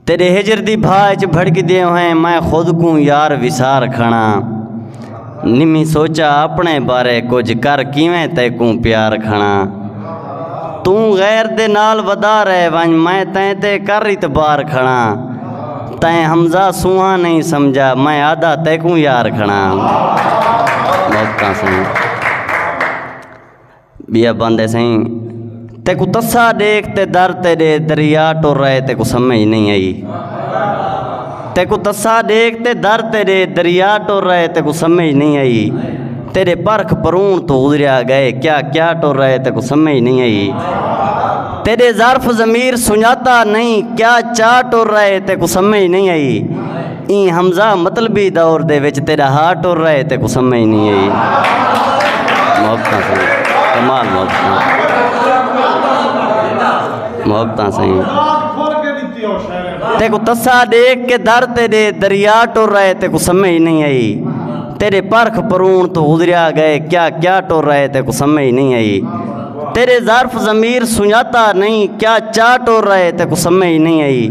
تیڈے ہجر دی بھا اچ بھڑک دے ہوئیں میں خود کوں یار وسار کھڑا نمی سوچا اپنے بارے کچھ کر کیویں تے کوں پیار کھڑا توں غیر دے نال ودا رہے ونج میں تیں تے کر اتبار کھڑا تیں حمزہ سوہاں نہیں سمجھا میں آدھا تے کوں یار کھڑا موقع سنوں ٻیا پاندے سئیں تیکوں تسا ڈیکھ تے در تیڈے دریا ٹر رہے تیکوں سمجھ نہیں آئی تیکوں تسا ڈیکھ تے در تیڈے دریا ٹر رہے تیکوں سمجھ نہیں آئی تیرے پرخ پرون تو گزریا گئے کیا کیا ٹر رہے تیکوں سمجھ نہیں آئی تیرے ظرف ضمیر سنجاتا نہیں کیا چا ٹر رہے تیکوں سمجھ نہیں آئی ایں حمزہ مطلبی دور دے وچ تیڈا ہا ٹر رہے تے کو سمجھ نی ائی محبتاں سائیں کمال محبتاں محبتاں سائیں تے کو تسا دیکھ کے در تے دے دریا ٹر رہے تے کو سمجھ نہیں ائی تیرے پرخ پرون تو گزریا گئے کیا کیا ٹر رہے تے کو سمجھ نہیں ائی تیرے ظرف ضمیر سنجاتا نہیں کیا چا ٹر رہے تے کو سمے ہی نہیں آئی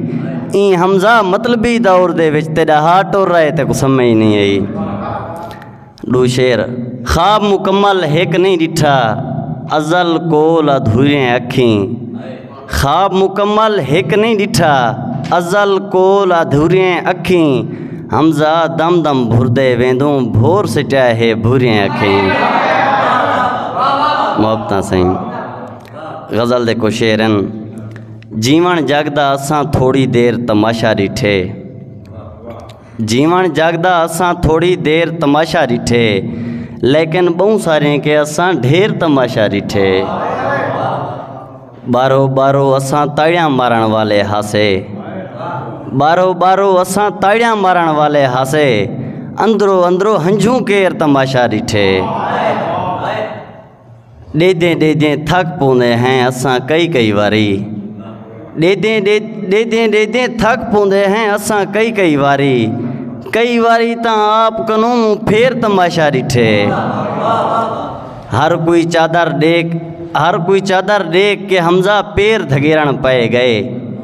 این حمزہ مطلبی دور دے وچ تیرا ہا ٹر رہے تے کو سمے ہی نہیں آئی ڈو شیر خواب مکمل ہک نہیں ڈٹھا ازل کول ادھوریں اکھیں خواب مکمل ہک نئیں ڈٹھا ازل کول ادھوریں اکھیں حمزہ دم دم بھردے ویندوں بھور سٹیا ہے بھوریں اکھیں محبتاں سائیں غزل دے کو شعرن جیون جگ دا اساں تھوڑی دیر تماشا ڈٹھے جیوݨ جگ دا اساں تھوڑی دیر تماشا ݙٹھے لیکن ٻہوں ساریں کے اساں ڈھیر تماشا ݙٹھے بارو بارو اساں تاڑیاں مارݨ والے ہاسے بارو بارو اساں تاڑیاں مارݨ والے ہاسے اندرو اندرو ہنجھوں کیر تماشا ݙٹھے ݙیہدیں ݙیہدیں تھک پوندے ہیں اساں کئی کئی واری ݙیہدیں ݙیہدیں ݙیہدیں تھک پوندے ہیں اساں کئی کئی واری کئی واری تاں آپ کنوں پھیر تماشا ݙٹھے ہر کوئی چادر ݙیکھ ہر کوئی چادر ݙیکھ کے حمزہ پیر دھگیرݨ پئے ڳئے